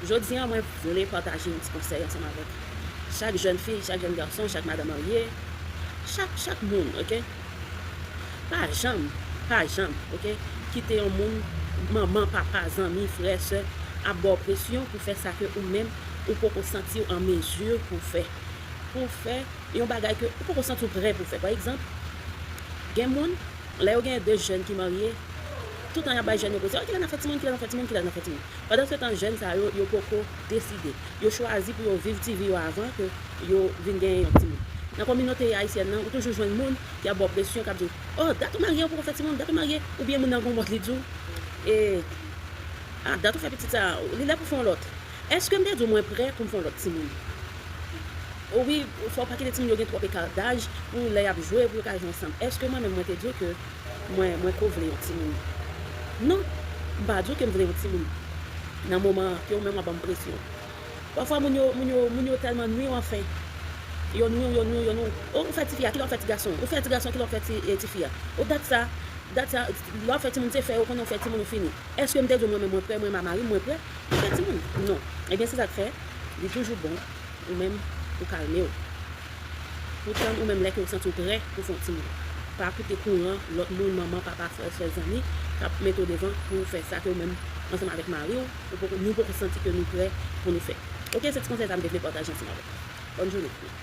Jodi a mwen vle pataje yon ti konsèy ansanm avèk chak jèn fi, chak jèn gason, chak madan marye, chak chak moun ok, pa janm, pa janm ok kite yon moun, manman, papa, zanmi, frè, sè ap ba w presyon pou fè sa ke ou menm ou poko santi w an mezi pou w fè, pou w fè yon bagay ke ou poko santi w prè pou w fè pa egzanp gen moun lè yo gen 2 jèn ki marye toutan yap bay jèn yo presyon kilè nap fè timoun, kilè nap fè timoun, kilè nap fè timoun Pandansetan jèn sa yo, yo poko deside. Yo chwazi pou yo viv ti vi yo avan ke yo vin genyen yon timoun. Nan kominote ayisyèn nan, ou toujou jwenn moun ki ap ba w presyon, k ap di w, Oh, dat ou marye ou poko fè timoun, dat ou marye, oubyen moun nan gen yon mòd li di w, Ah, dat ou fè pitit sa a, li lè pou w fè yon lòt. Èske m te di w mwen prè pou m fè yon lòt timoun? O wi, fò w pa kite timoun yo gen twòp eka daj pou lè y ap jwe, pou yo ka jwe ansanm. Èske mwen menm mwen te di w ke Mwen, mwen ko vle yon timoun. Non, m pa di w ke m vle yon timoun nan moman an, ke ou menm w ap ban m presyon. Pafwa moun yo, moun yo, moun yo tèlman nwi w anfen. Yo nwi w, yo nwi w, yo nwi w. O, ou fè tifi a, kilè w ap fè tigason an? Ou fè tigason an, kilè w ap fè ti, e, tifi a? O, dat sa, dat sa, lè w ap fè timoun, se fè, ou konnen ou fè timoun, ou fini. Èske m te di w mwen menm mwen prè, mwen menm a mari m, mwen prè pou m fè timoun? Non. Ebyen se sa k fè, li toujou bon ou menm ou kalme w. Pou tann ou menm lè kew santiw prè pou fon timoun. Pa koute kouran lòt moun manman, papa, frè, sè, zanmi kap mete w devan pouw fè sa ke ou menm ansanm avèk mariw ou poko nou poko santi ke nou prè pou nou fè. Ok se ti konsèy sa m te vle pataje ansanm avèk nou. Bòn jounen.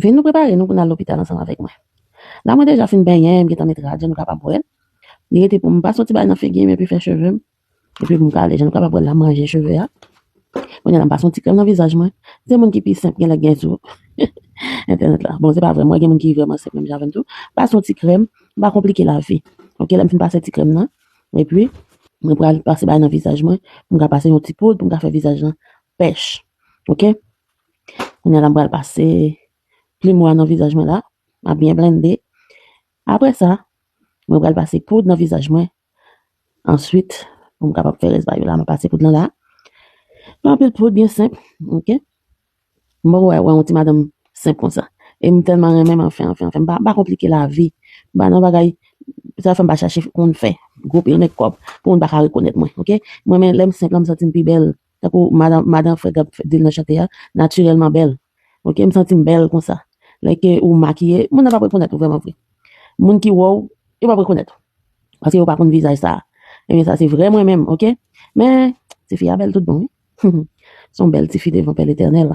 Vin nou prepare nou pou nan lopital ansanm avèk mwen. La mwen deja fin benyen, m gentan met rad yo nou kapab wè. Li rete pou m pa soti bay nan figi m epi fè cheve m, Depi pou m kale je m kapab wè l ap manje cheve a. Kounye a la m pase yon ti krèm nan vizaj mwen. Se moun ki pi senp genlè gen sou entènèt la. Bon, se pa vre, mwen gen moun ki vrèman senp menm jan avè m tou. Pase yon ti krèm, m pa konplike lavi. Ok, lè m fin pase ti krèm nan, epi mwen pral pase bagay nan vizaj mwen pou m ka pase yon ti poud pou m ka fè vizaj lan pèch. Ok, kounye a la m pral pase plimo a nan vizaj mwen la, m ap byen blende. Apre sa, mwen pral pase poud nan vizaj mwen Answit, pou m kapab fè rès bagay yo la, m ap pase poud lan la. M ap met poud byen senp, ok. M poko wè yon ti madanm senp konsa. E m tèlman renmen m anfen, anfen, anfen. M pa konplike lavi. M pa nan bagay, sa fè m pa chache konn fè gwo pil mekòp pou moun pa ka rekonèt mwen, ok. M renmen lè m senp la, m santi m pi bèl. Tankou madan madan Fred ap fè dil nan chante a, natirèlman bèl. Ok, m santi m bèl konsa. Lè ke ou makiye, moun nan p ap rekonèt ou vrèman vre. Moun ki wè w, yo p ap rekonèt ou. Paske yo pa konn vizaj sa a. Ebyen sa se vrè mwen menm, ok. Men, tifi a bèl tout bon wi. Humm, s on bèl tifi devan Pè Letènèl.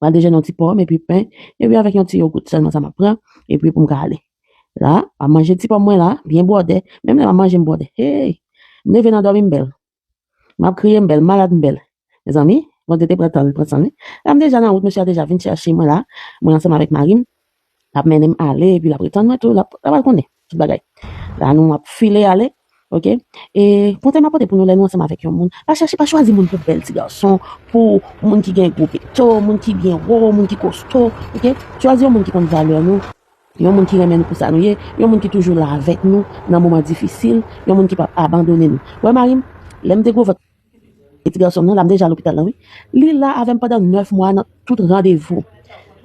Pral dejène yon ti pòm epi pen, epi avèk yon ti yogout sèlman sa map pran epi pou m ka ale. La, map manje ti pòm mwen la, byen bwòdè, menm lè map manje m bwòdè. Hey! M leve nan dòmi m bèl. Map kriye m bèl, malad m bèl. Mezanmi, Bondye te pran tan l pran san li. La m deja nan wout, mesye a deja vin chèche mwen la, mwen ansanm avèk mari m. Lap mennenm ale epi lap retann mwen tou lap lap al konnen tout bagay la nou ap file ale ok e konsèy map pote pou nou lè nou ansanm avèk yon moun pa chèche pa chwazi moun pou bèl ti gason pou moun ki gen gwo pekto moun ki byen wo moun ki kosto ok chwazi yon moun ki konn valè nou yon moun ki renmen nou pou sa nou ye yon moun ki toujou la avèk nou nan moman difisil yon moun ki pap abandone nou wè marim lèm te gwo vant Piti gason m nan la, m deja lopital la wi. Li la avèm pandan 9 mwa nan tout randevou.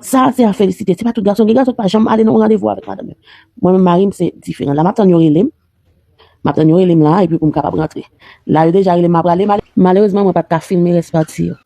Sa se a felisite, se pa tout gason, gen gason ki pa janm ale nan yon randevou avèk madanm yo. Mwen menm mari m se diferan. La map tann yo rele m, map tann yo rele m la epi pou m kapab rantre. La yo deja rele m ma prale. Malerezman mwen pat ka filme rès pati yo.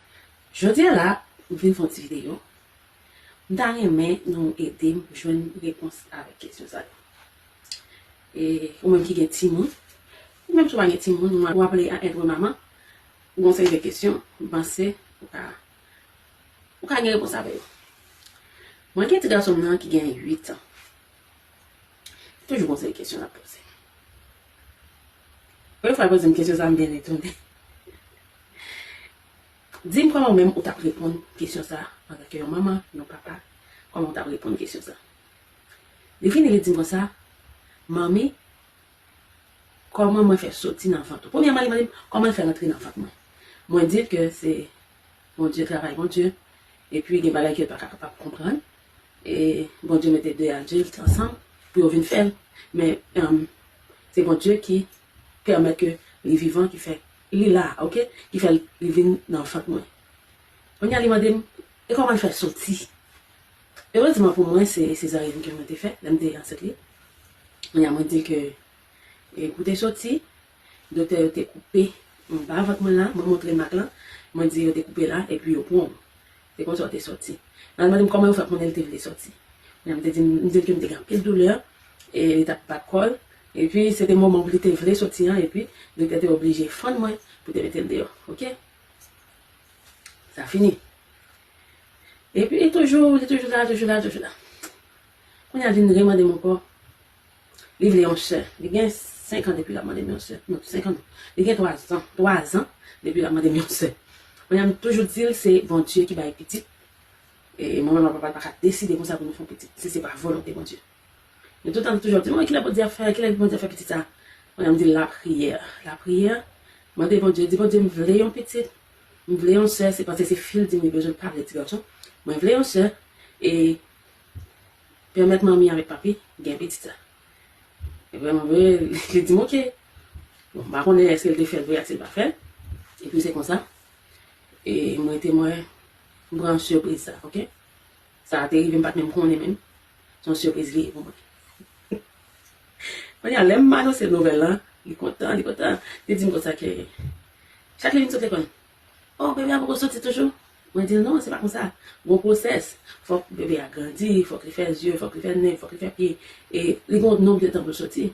Jodia la m vin fè yon ti video m ta renmen nou edem jwenn repons avèk kesyon sa yo e ou menm ki gen timoun ou menm si ou pa gen timoun ou wap ale a etre maman ou gon seri de kesyon m panse ou ka ou ka gen repons avè yo mwen gen ti gason m nan ki gen 8 ans. Se toujou konsa e kesyon nap poze. Yon fwa yo pozem kesyon sa m byen etone. Dim kòman ou menm ou tap reponn kesyon sa antanke yon manman, yon papa, kòman ou tap reponn kesyon sa. Li vini li dim konsa, Manmi, kòman mwen fè soti nan vant ou? Premyèman li mande'm kòman l fè rantre nan vant mwen. Mwen dil ke se Bondye, travay Bondye, epi gen bagay ke l paka kapab konprann, E Bondye mete 2 adilt ansanm pou yo vin fèl, men se Bondye ki pèmèt ke li vivan ki fè li la ok, ki fè li vin nan vant mwen. Kounye a li mande m, e kòman l fè soti? Erezman pou mwen se sezaryèn ke mwen te fè lè m te ansent li. Kounye a mwen di l ke pou te soti, doktè yo te koupe anba vant mwen la, mwen montre mak lan, mwen di yo te koupe la epi yo pran w. Se konsa w te soti. Nan l mande m kòman yo fè konnen l te vle soti. Kounye a m te di m di l ke m te gen anpil doulè e li t ap bat kò l. Epi se te moman pou li te vle soti an epi Direktè te oblije fann mwen pou te mete l deyò. Ok. Sa fini. Epi toujou li toujou la, toujou la, toujou la. Kounye a vin remande m ankò. Li vle yon sè. Li gen 5 an depi l ap mande m yon sè. Non, 5 an non. Li gen 3 zan. 3 zan depi l ap mande m yon sè. Kounye a m toujou di l se Bondye ki bay pitit. E mwen menm ak papa l pa ka deside konsa pou nou fè yon pitit si se pa volonte Bondye. Li toutan li toujou ap di m, kilè Bondye ap fè, kilè pou Bondye fè pitit sa a. Kounye a m di l lapriyè. Lapriyè, mande Bondye, di Bondye m vle yon pitit, m vle yon sè, se paske se fi l di m li bezwen pa vle ti gason. Mwen vle yon sè e Pèmèt manmi avèk papi gen pitit sa. Epi manmi vre li di m ok. Bon m pa konnen èske l te fè l vre ak si l pa fè l. Epi se konsa e m rete mwen m pran sipriz sa ok. Sa te rive m pa t menm konnen menm. Se yon sipriz li ye pou mwen. Kounya lè m anonse l nouvèl lan li kontan li kontan. Li di m konsa ke chak lè vin sot lekòl. Oh bebe a poko soti toujou? Mwen dil non se pa konsa, gon pwosès, fòk bebe a grandi, fòk li fè zye, fòk li fè nen, fòk li fè pye, e li gon nonb de tan poul soti.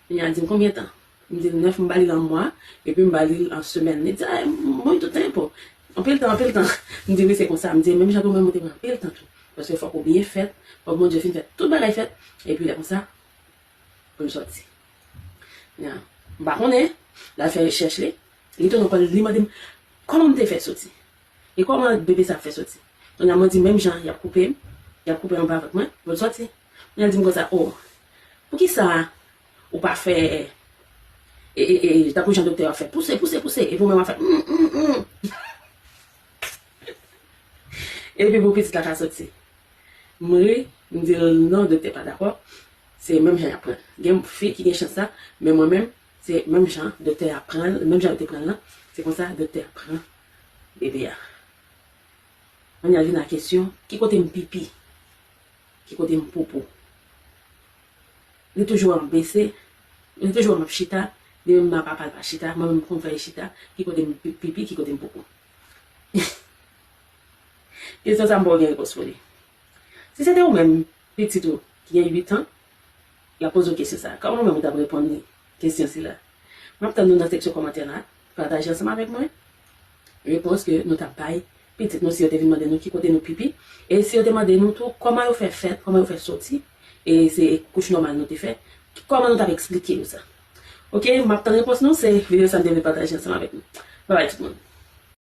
Kounya l dim konbyen tan? M dil 9 m ba lil an mwa, epi m ba lil an semèn, li di ay muito tempo, anpil tan anpil tan, m di wi se konsa, m di menm jan tou mwen mwen te pran anpil tan tou, paske fòk ou byen fèt, fòk Bondye fin fè tout bagay fèt, epi lè konsa poul soti. Kounya m pa konnen, lal fè rechèch li. Li tounen kòl li mande m kòman m te fè soti? E kòman bebe sa ap fè soti? Kounye a mwen di menm jan y ap koupe m, y ap koupe anba vant mwen pou l soti. Kounye a l di m konsa o, poukisa ou pa fè e e tankou jan doktè yo ap fè pouse, pouse, pouse epi ou menm w ap fè m m m m epi pou pitit la ka soti. M ri, m di l non doktè pa dakò, se menm jan y ap pran l. Gen fi ki gen chans sa men mwen menm Se menm jan doktè a pran l, menm jan yo te pran l lan, se konsa doktè a pran bebe a. An nou al vin a kesyon, ki kote m pipi? Ki kote m poupou? Li toujou wè m bese, li toujou wè m ap chita, li menm nan papa l pa chita, mwen menm m konn fè li chita, ki kote m pipi, ki kote m poupou? Kesyon sa m pa w gen repons pou li. Si se te ou menm, Pitit ou ki gen 8 an, l ap poze w kesyon sa a. Kòman ou menm ou t ap reponn li kesyon sila? M ap tann nou nan seksyon kòmantè la. Pataje ansanm avèk mwen repons ke nou t ap bay pitit nou si yo te vin mande nou ki kote nou pipi e si yo te mande nou tou kòman yo fè fèt, kòman yo fè soti e se kouch nòmal nou te fè, kòman nou t ap eksplike yo sa. Ok, m ap tann repons nou. Se videyo sa m te vle pataje ansanm avèk nou. Babay tout moun!